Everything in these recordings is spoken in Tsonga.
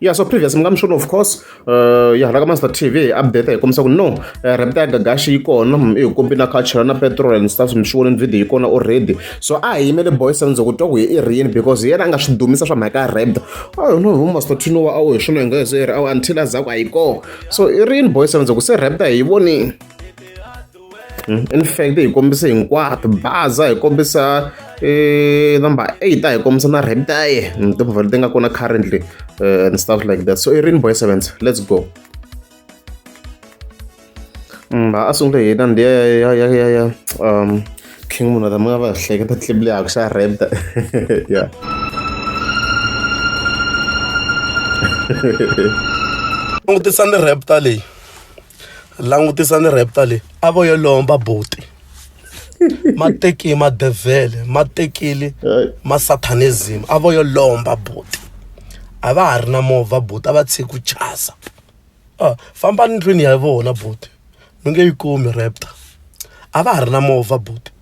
yeah so previous mi nga mi swona of course uh, ya hala ka master tv update hi kombisa ku no uh, eh, repita ya gagaxi yi kona mm, i kombi na culture na petrol and stuff mi swi voneni video yi kona already so a hi yimele boys and ku twa ku hi i rini because hi yena a nga swi dumisa swa mhaka ya repta ayo no vo master tino wa awu hi swona hi nga hi swi ri awu until a za ku a yi kona so i rini boys and ku se repta hi yi vonini in fact hi kombise hinkwato baza hi kombisa eh, number eight a hi kombisa na reptaye mm, timovha leti nga kona currently eh, and stuff like that so i rini boy sevens let's go mm, a sungule hi nandi ya ya ya ya ya um king munhu ta mi nga va hleketa tlip leyaku xa repta ya langutisa ni repta leyi langutisa ni raptor leyi a vo yo lomba buti ma teki madevhele ma tekile ma satanism a vo yo lomba buti a va ha ri na movha buti a va tshiki ku chasa a famba ni ndlwini ya vona buti mi nge yi kumi raptor a va ha ri na movha buti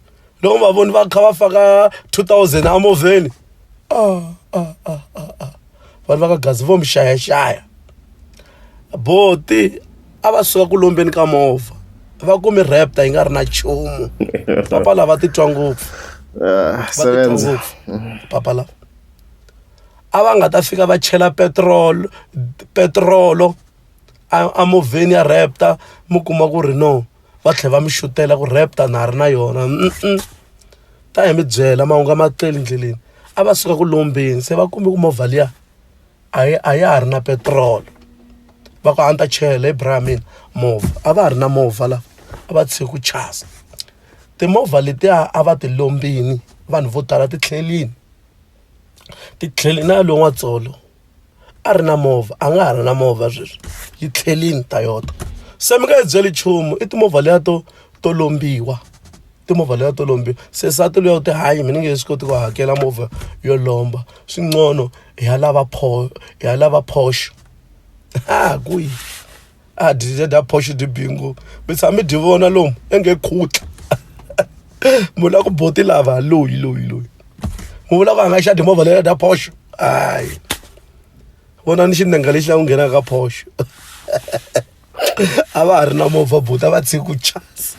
loko va voni va kha va faka 2000 emovheni a a a a a vanhu va ka gazi vo mi xayaxaya boti a va suka ku lombeni ka movha va ku mi rapta yi nga ri na nchumu papa lava titwa ngopfu Ah, va titwa sebenza ngopfu papa lava a va nga ta fika va chela petrol petrolo a movheni ya raptor mi kuma ku ri no va tlhela va mi xutela ku raptor na ha ri na yona ta hi mi byela mahungu a ma tele endleleni a va suka ku lombeni se va kumbe ku movha liya a yi a ya ha ri na petiroli va ku a ni ta chela hi bra ya mina movha a va ha ri na movha la a va tshiki ku chasa timovha letiya a va ti lombini vanhu vo tala titlhelini titlhelini na ya loyi n'watsolo a ri na movha a nga ha ri na movha sweswi yi tlhelini Toyota se mi nga yi byeli nchumu i timovha liya to to lombiwa timovha liya to lombiwa se nsati luya u ti hayi mina ni nge swi koti ku hakela movha yo lomba swi ncono hi ya lava pho hi ya lava Porsche ha ku yi. a did a phoxi dyi bingo mi tshama mi dyi vona lomu i nge khutla munhu la ku boti lava loyi loyi loyi mu vula ku a nga xa timovha leya dya phoxo hayi vona ni xinenga lexi la ku nghenaka ka phoxo a va ha ri na movha buti a va tshiki ku chasa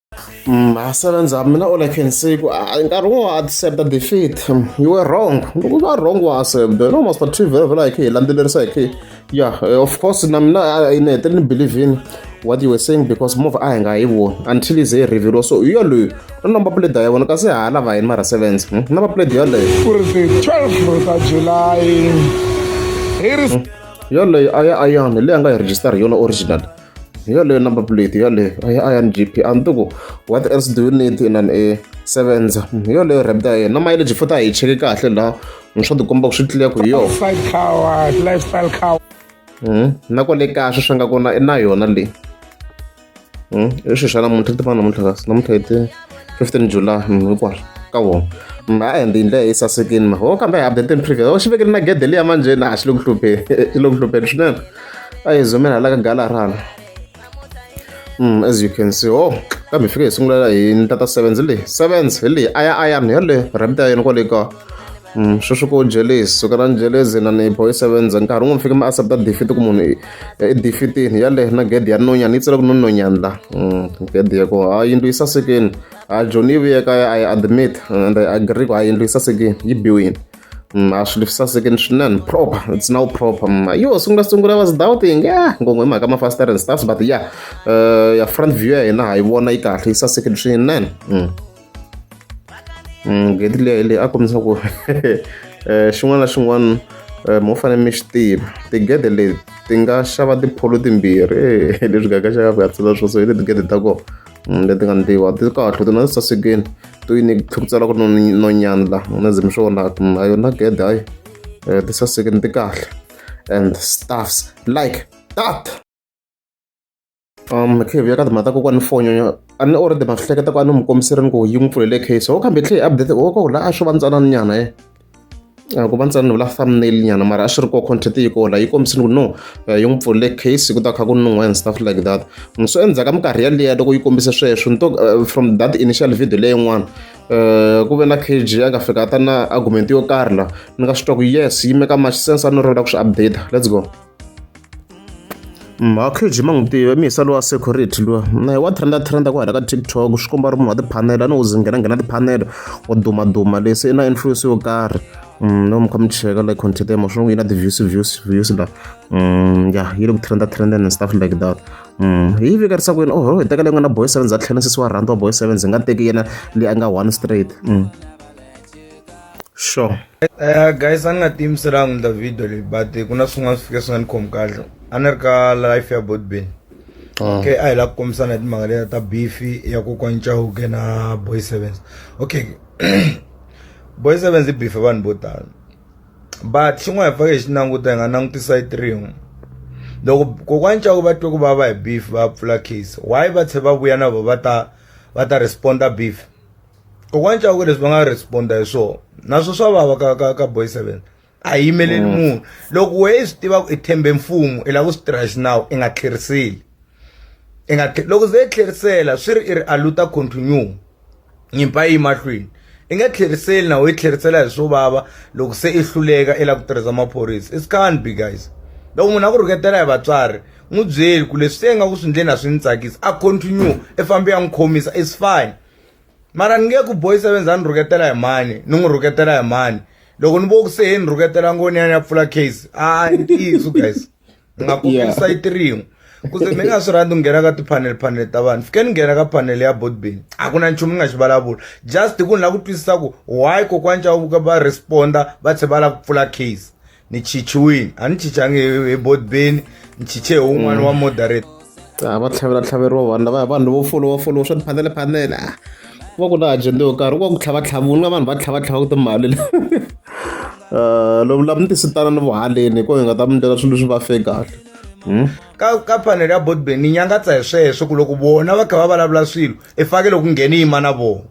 Mhasa ra ndzhamu mina all I can say ku ah, nkarhi wo accepta defeat hmm, you were wrong loko u va wrong wa accepta no must but vhela vhela hi khe hi landzelerisa hi khe ya eh, of course na mina ah, ah, ni hetelele ni believe in what you were saying because move a hi nga yi voni until ize yi reveliwa so hi yaloyo u na mapleda ya vona kasi ha lava yini mara sevens hmm, na mapleda yaleyo ku ri ti 12 ta july hi ri hmm, yaleyo a ya ayani leyi a nga yi register hi yona original hi yaleyo number plate yaleyo a ya iron gp a ni tiku what else do you need in an a sevenza hi yaleyo rap ta yena mileage futhi a hi cheke kahle laha ni swa tikomba ku swi tliya ku hi yona Fight coward, lifestyle coward. Mhm. na kwale kaya swi swi nga kona i na yona leyi Mhm. i swilo swa namuntlha ti fana namuntlha kasi namuntlha hi ti fifteen july mhm, hinkwaswo ka wona Mhm, a and hi ndlela yi sasekini ma ho kambe hi updateni previous ho xi vekele na gede liya manjheni a xi le ku hlupheni xi le ku hlupheni swinene a hi zomela hala ka gala rhala Mm, as you can see oh kambe hi fike hi sungula hi ntata sevens hi leyi sevens hi leyi aya ayan hi yaleyo ramit ya yena kwale ka Mm, sweswi ko jealous suka na jealous na ni boy sevens nkarhi wun'we fike mi accepta defeat ku munhu i- i defeatini yaleyo na gede ya nonyana yi tsela ku nononyana la Mm, gede ya ko ha yindlu yi sasekeni ha joni yi vuye kaya a yi admit and I agree ku ha yindlu yi sasekeni yi biwini Mm, a swilo swi saseke ni swinene proper it's now proper mm, yo sungula sungula was doubting ya ngongwe mhaka mafasitara and stuffs but ya uh, ya front view ya hina ha yi vona yi kahle yi saseke ni swinene mm. mm, gedi leyi leyi a kombisa ku eh, xin'wana na xin'wana eh, mo fanele mi xi tiva tigede leti ti nga xava tipholo timbirhi leswi gaka xaka ku ya tsala swo so hi le tigede ta kona leti nga ntiwa ti kahle ti na sasekeni to yi ni thukitsela ku no nyandla na zimi swo vona a yona gede hayi eh, ti sasekeni ti kahle and stuffs like that um cave ya ka timhata ko kwani fonyo a ni already ma swi hleketa ku a ni mu kombiserini ku yi n'wi pfulele case ho kambe tlhe update ho ko la a xo va ntsanana nyana ye eh. A ku va ntsena ni vula thumbnail nyana mara a swi ri kona content yi kona yi kombisile ku no eh, yi n'wi pfulele case ku ta kha ku nun'wa and stuff like that so endzhaku ka minkarhi yaliya loko yi kombise sweswo ni to eh, from that initial video leyin'wana um ku ve na kg a nga fika ta na argument yo karhi la ni nga swi twa ku yes yi meka much sense a ni ri ku swi update let's go Makhadzi ma n'wi tiva mi hisa lowa security luwa na wa trenda trenda ku hala ka TikTok swi komba ri munhu wa tiphanele a ni u zi nghena nghena tiphanele wa duma duma lexi i na influence yo karhi no mi kha mi cheka like content ya mo swi n'wi yi na ti-views views views la ya yi le ku trenda trendeni and stuff like that hi yi vikarisa kwini oho hi tekele n'wina boy seven za tlhela sesi wa rhandza wa boy seven ndzi nga teki yena leyi a nga one straight sure. Uh, guys a ni nga tiyimiselanga ndla video leyi but ku na swin'wana swi fike swi nga ni khomi kahle a ni ri ka life ya bodbin ah. okay a hi la ku kombisana hi timhaka leya ta beefi ya kokwani chauke na boy sevens okay boy sevens i beefe vanhu vo tala but xin'wana hi fake hi xi languta hi nga langutisa yi trin'we loko kokwani chauke va twe ku va va hi beef va pfula case why va tlhe va vuya na vo va ta va ta responda beef kokwani cawuke leswi va nga responda hi swona naswo swa vava ka ka ka boy seven a hi yimeleli mm. munhu loko wena i swi tiva ku i thembe mfumo i lava ku swi tirha xinawu i nga tlheriseli i nga loko ze i tlherisela swi ri i ri aluta continue nyimpa yi mahlweni i nga tlheriseli nawu i tlherisela hi swo vava loko se i hluleka i lava ku tirhisa maphorisa it's can't be guys loko munhu a ku rhuketela hi vatswari n'wi byeli ku leswi se nga ku swi ndleni a swi ni tsakisi a continue i fambe ya n'wi khomisa it's fine mara ni nge ku boy sevenz a ni rhuketela hi mani ni n'wi rhuketela hi mani loko ni vo ku se he ni rhuketela ngoni ya ni ya pfula case a ni tiyiso guys ni nga kokeli sayiti rin'we kuze mi nga swi rhandzi nghena ka tiphanele phanele ta vanhu fike ni nghena ka phanele ya botbin a ku na nchumu ni nga xi vulavula just hi ku ni lava ku twisisa ku why kokwani cava vuka va responda va tlhe va lava ku pfula case ni chichiwini a ni chichangi hi bodbeni ni chiche hi wun'wana mm. wa moderate a va tlhavela tlhaveriwa vanhu lavaya vanhu vo folowa folowa swa tiphanele phanele a va ku na ajenda yo karhi ku va ku tlhava tlhavu nga vanhu va tlhava tlhava ku timali le eh, lomu lava ni tisitana ni vuhaleni hi ko hi nga ta mi ndlela swilo leswi va fe kahle hmm? ka ka phanele ya bodbeni ni nyangatsa hi sweswo ku loko vona va kha va vulavula swilo i fake loko ngheni yima na vona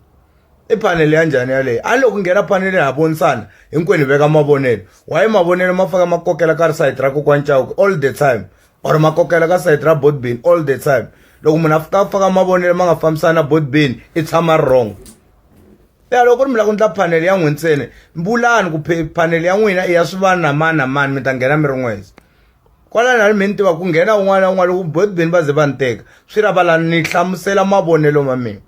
i phanele ya njhani yaleyo a loko nghena phanele ha vonisana hinkwenu hi veka mavonelo waye mavonelo ma faka ma kokela ka ri sayiti ra kokwani chauke all the time or ma kokela ka sayiti ra botbin all the time loko munhu a fika a faka mavonelo ma nga fambisani na botbin i tshama ri wrong ya loko ku ri mi lava ku ndla phanele ya n'we ntsena vulani ku phanele ya n'wina i ya swi vana na mani na mani mi ta nghena mi ri n'weza kwalani a ni mi ni tiva ku nghena un'wana na un'wana loko botbin va ze va ni teka swi ra valani ni hlamusela mavonelo ma mina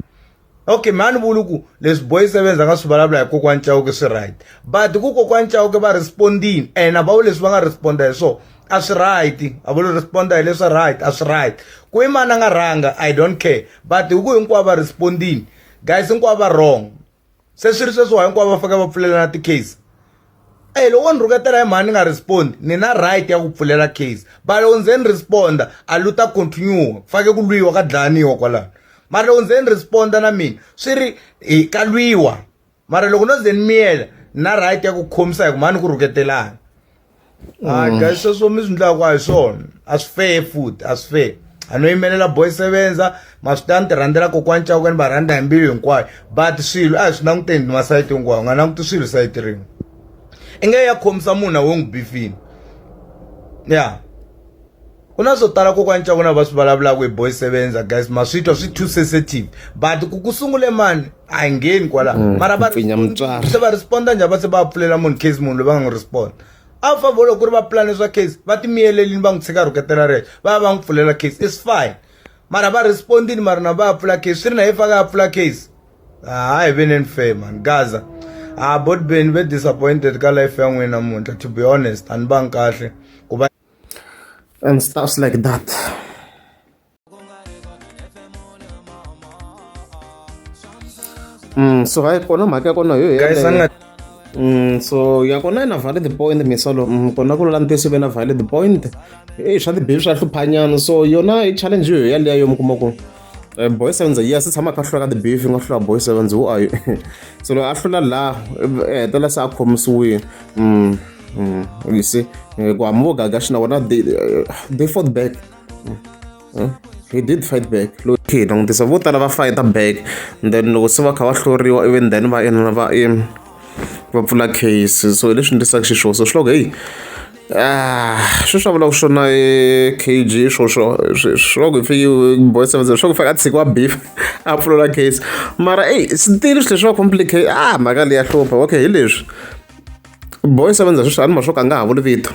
okay mhani vulu ku leswi boy sevenz a nga swi vulavula hi kokwani chauke swi right but ku kokwani chauke va respondini and avawu leswi va nga responda hi swona a swi right a vuli responda hi leswi right a swi right ku i mani a nga rhanga i don't care but hi ku hinkwavo va respondini guys hinkwavo va wrong se swi ri sweswiwa hinkwavo va fanekele va pfulelana ti-case e loko wo ni rhuketela hi mhani ni nga respond ni na right ya ku pfulela case but loko ndze ni responda a lu ta continue ku fake ku lwiwa ka dlayaniwa kwalano mara loko ndze ni responda na mina swi ri hi ka lwiwa mara loko no ze ni miyela ni na right ya ku khomisa hi ku mhani ku rhuketelana hayi mm. guys sweswo mi swi ndlaka a hi swona a swi fair futhi a swi fair anoyimelela boy sevenza ma swi ta ni ti rhandzela kokwani cawuka ni va rhandza hi mbilu hinkwayo but swilo a hi swi languteni ni masayiti hinkwayo u nga languti swilo sayiti rin'we i nge ya khomisa munhu na wo n'wi bifini ya ku na swo tala kokwani cawuka na va swi vulavulaka hi boy sevenza guys ma swi twa swi too sensitive but ku ku sungule mani a yi ngheni kwalaho mara va se va responda njhani va se va pfulela munhu case munhu loyi va nga n'wi responda a va vona ku ri va pulane swa case va timiyelelini va n'wi tshika rhuketela rexo va va va n'wi pfulela case is fine mara va respondini mara na va ya pfula case swi ri na ye faka ya pfula case ha hi veneni fair man gaza a bot beni ve disappointed ka life ya n'wina namuntlha to be honest a ni vangi kahle ku va and stuffs like that Mm, so hayi kona mhaka ya kona hi yo Guys, yeleyo. anga- Mm, so ya kona yi na valid point misolo mm, kona ku lula ntiyiso ve na valid point e swa tibibi swa hluphanyana so yona i challenge yo yaleyo mi kuma ku eh, boy sevens yes i tshama a kha a hlula ka tibibi yi nga hlula boy sevens who are you so loko a hlula laha eh, hetelela se a khomisiwile mm, mm, you see Eh, ku hamba vo gaga xina wona they, eh, they fought back hmm? he did fight back okay langutisa vo tala va fighta back then loko se va kha va hloriwa even then va ina va im va pfula case so hi leswi endlisaka xiswona so swi loko heyi ah swi swa vulaka swona e kg swoswo swi loko hi fiki boy seven swi loko fake a tshikiwa beef a pfulula case mara eyi sitili swi leswi va complicate ah mhaka leyi ya hlupha okay hi leswi boy seven sweswi a ni ma swo ka a nga ha vuli vito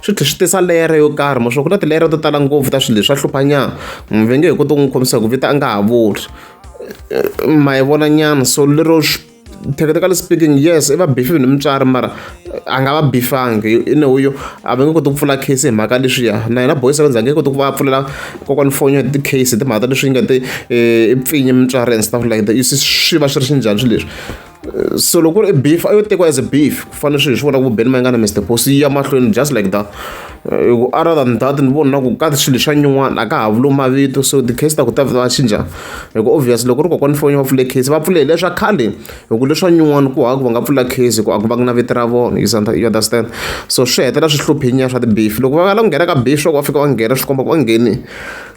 swi tlhela swi tisa leyara yo karhi ma swa ku na tileyara to tala ngopfu ta swilo leswi swa hluphanyana munhu ve nge hi koti ku n'wi khomisa ku vita a nga ha vuli ma yi vona nyana so lero technically speaking yes i va bifile ni mutswari mara a nga va bifangi i ne uyo a va nge koti ku pfula case hi mhaka leswiya na yena boy sevenza nge koti ku va pfulela kokwani fonyo ti case hi timhaka ta leswi nga ti i pfinyi mutswari and stuff like that you see swi va swi ri xinjhani swi leswi so loko ri beef a yo tekiwa as a beef ku fanele swilo swi vona ku beni ma nga na mr post yi ya mahlweni just like that eh, ku other than that ni vona ku ka swilo swa nyin'wana a ka ha vulo mavito so ti-case ta ku ta va cinca hi ku obvious loko ri kokwani fonyo va pfule case va pfulele leswa khale hi ku leswa nyin'wana ku haku va nga pfula case hi ku a ku va ku na vito ra vona you understand so swi hetela swi hluphinya swa ti-beef loko va nga la ku nghena ka beef swa ku va fika va nghena swi komba ku va ngheni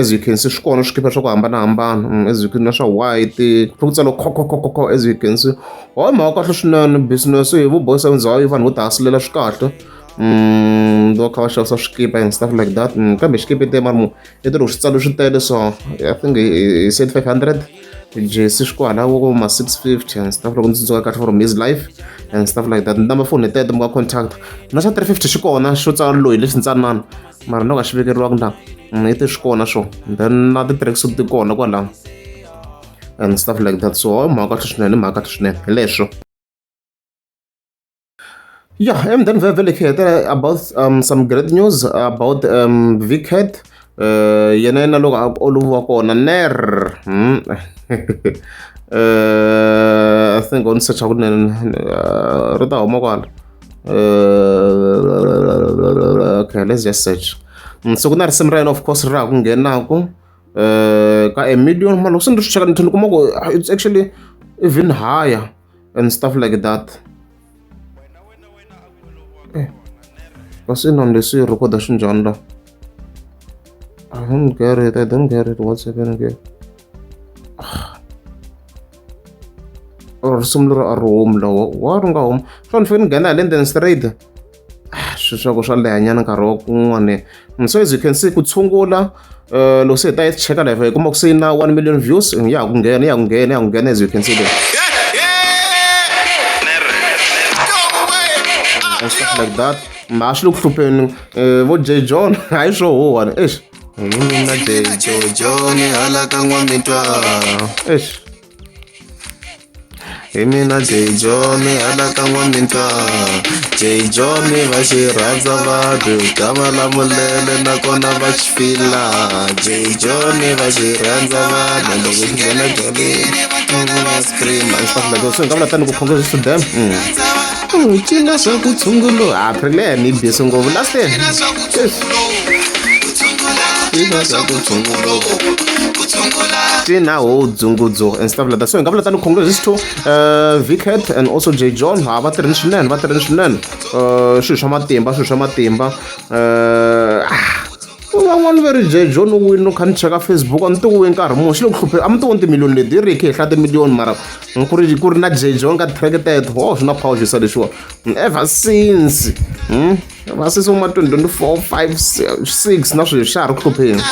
as you can see swi kona swikipa swa ku hambanahambana as you can na swa white kha ku tsala khokhokhokho as you can see hoy mhaka kahle swinene business hi vu boys and zayo vanhu vo tihasilela swi kahle um va kha va xavisa swikipa and stuff like that kambe xikipa te mara mu i ti loko swi tsalo swi tele so i think hi said 500 jesi swi kwalaho ko ma 650 and stuff loko ndzi tsundzuka kahle from his life and stuff like that number phone tete mi nga contact na xa 350 xi kona xo tsala loyi lexi ntsanana mara no ka xi vekeriwaka na mm, i te swi kona swo then na ti-tracks ti kona kwalaho and stuff like that so i mhaka kahle swinene i mhaka kahle swinene hi leswo Yeah, and then we will hear about um, some great news about um, Vickhead. Uh, yena yena loko a oloviwa kona ner hmm. uh, i think on search kunene uh, ri ta huma kwala uh, okay let's just search hmm, so ku na risimu ra yena of course ri raha ku nghenaka uh, ka a million mani loko se ni ri swi cheka ni tlhela ni kuma ku it's actually even higher and stuff like that eh what's in on this record the shinjan la i don't get it i don't get it what's happening again or similar a room lawa wa runga home fanfani nghena hi le ndzeni straight ah, swi swa ku swa lehanyana nkarhi wa kun'wana mm, so as you can see ku tshungula uh, loko se hi ta yi cheka live hi kuma ku se yi na one million views mm, ya ha ku nghena ya ku nghena ya ku nghena as you can see there and stuff like that ma swi le ku hlupheni eh, vo j john hayi swo huwani eish mina j jojo ni hala ka n'wa mitwa eish hi mina jay john anakan'wa mintlawa jay john va xi rhandza vanhu ta malamulele nakona va xi fila jay john va xi rhandza vanhu loko xi nghena jolini va scream a xi fambela swi nga vula tani ku khonge swi swi dam ku n'wi cina swa ku tshungulu ha ri le ni bisi ngopfu lasten cina swa ku tshungulu Tina Ho Dzungudzu and stuff like that. So hi nga vula tani congrats is to uh, Vicat and also J John ha va tirhini swinene va tirhini swinene uh, swilo swa matimba swilo swa matimba uh, ah, van'wana va ri J John u wini u kha ni cheka Facebook a ni ti wini nkarhi muni xi le ku hlupheni a mi ti wini timiliyoni leti hi ri hi khe hi hlaya timiliyoni mara ku ri ku ri na jejong ka track teto ho swi na power xisa lexiwa ever since hmm? ever since uma 2024 5 6 na sweswi xa ha ri ku hlupheni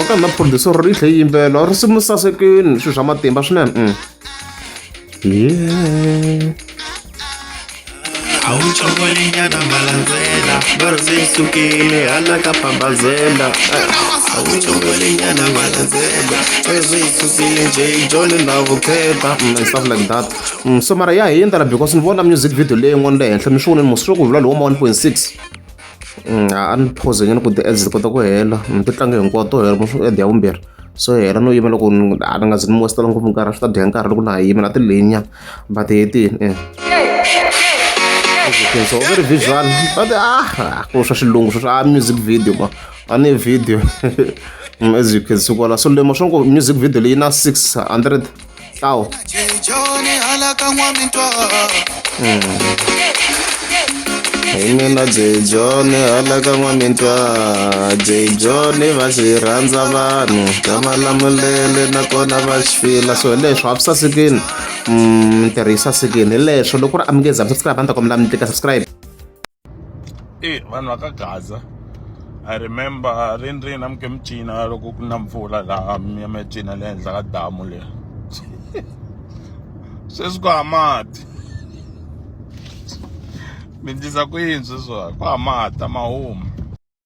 ka na producer ri tlhe yimbelo ri simu sasekini swilo swa matimba swinene mm. yeah. awucokolenyana malandzela ngoro se yi sukile hala ka pambazela awucokolenyana malandzela ngoro se yi sukile nje yi jole na vukheta mm, and stuff like that mm, so mara ya hi endlela because ni vona music video leyi n'wana le henhla mi swi voneni moswi ku vula lowu ma 1.6 mm, a ni phoze nyana ku ti-ads ti kota ku hela ti tlange hinkwawo to hela moswi ad ya vumbirhi so hela no yima loko a ni nga zi ni mositela ngopfu nkarhi swi ta dya nkarhi loko na ha yimela ti leyinyana But it is. Eh. It's so very visual. But ah, ko swa xilungu swa music video ma. Ani video. Mm, as you can see kwala so lemo swa ku music video leyi na 600 tlawo. Mm. hini na jejoni hala ka n'wamitwa jejoni va xi rhandza vanhu va va lamulele nakona va xi fila so leswo a swi sasekini mintirho mm, yi sasekini hi leswo loko ku ri a mi nge za mi subscribe a ni ta kombela mi tika subscribe e vanhu va ka gaza i remember ri ni ri na mi ke mi cina loko ku na mpfula laha mi ya mi ya cina le henhla ka damu leri sweswi ku hava mati mi endlisa ku yini sweswiwa ku hava mati a ma humi.